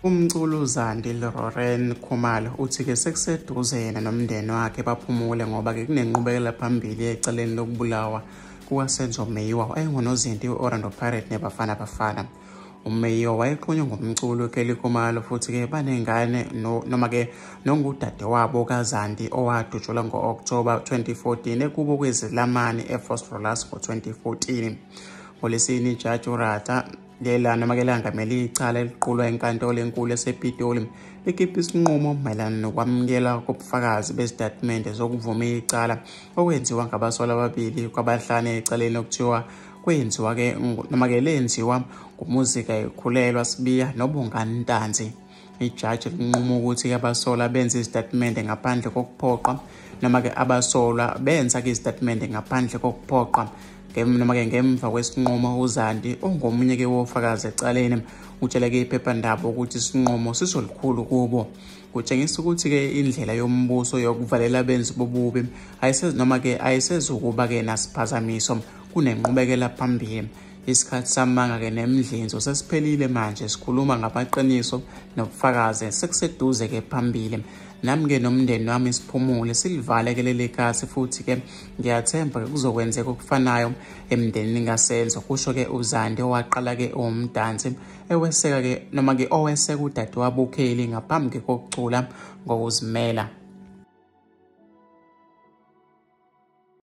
Umculu Zandile Roren Khumalo uthi ke sekuseduze yena nomndeni wakhe baphumule ngoba ke kunenqubekela phambili eceleni lokubulawa kukaSenzo Meyiwa oyengunozinti we-Orlando Pirates neBafana Bafana. umeyiwa wayeqhunywe ngomculo ukelly khumalo futhi-ke banengane noma-ke nongudade wabo kazandi owadutshelwa ngo-okthoba 2014 ekubo kwezilamani efos rolas ngo-2014 ngolesini ijaji urata lela noma ke langamele icala eliqulwa enkantolo enkulu esepitoli likhipha isinqumo mayelana nokwamukela kobufakazi bezitatimende zokuvuma icala okwenziwa ngabasola ababili kwabahlane ecaleni okuthiwa kwenziwa ke noma ke lenziwa ngumuzi kayikhulelwa sibiya nobongani ntanzi ijaji linquma ukuthi abasola benze izitatimende ngaphandle kokuphoqa noma-ke abasolwa benza-ke izitatimende ngaphandle kokuphoqa noma-ke ngemva kwesinqumo uzandi ongomunye-ke wofakazi ecaleni utshele-ke iphephandaba ukuthi isinqumo sisolukhulu kubo kutshengisa ukuthi-ke indlela yombuso yokuvalela abenzi bobubi noma-ke ayisezukuba-ke nasiphazamiso kunenqubekela phambili isikhathi samanga-ke nemdlinzo sesiphelile manje sikhuluma ngamaqiniso nobufakazi sekuseduze-ke phambili nami-ke nomndeni wami siphumule silivale-ke leli kasi futhi-ke ngiyathemba-ke kuzokwenzeka okufanayo emndenini kasenzo kusho-ke uzande owaqala-ke owumdansi eweseka-ke noma-ke oweseka udadewabo ukheli ngaphambi kokucula ngokuzimela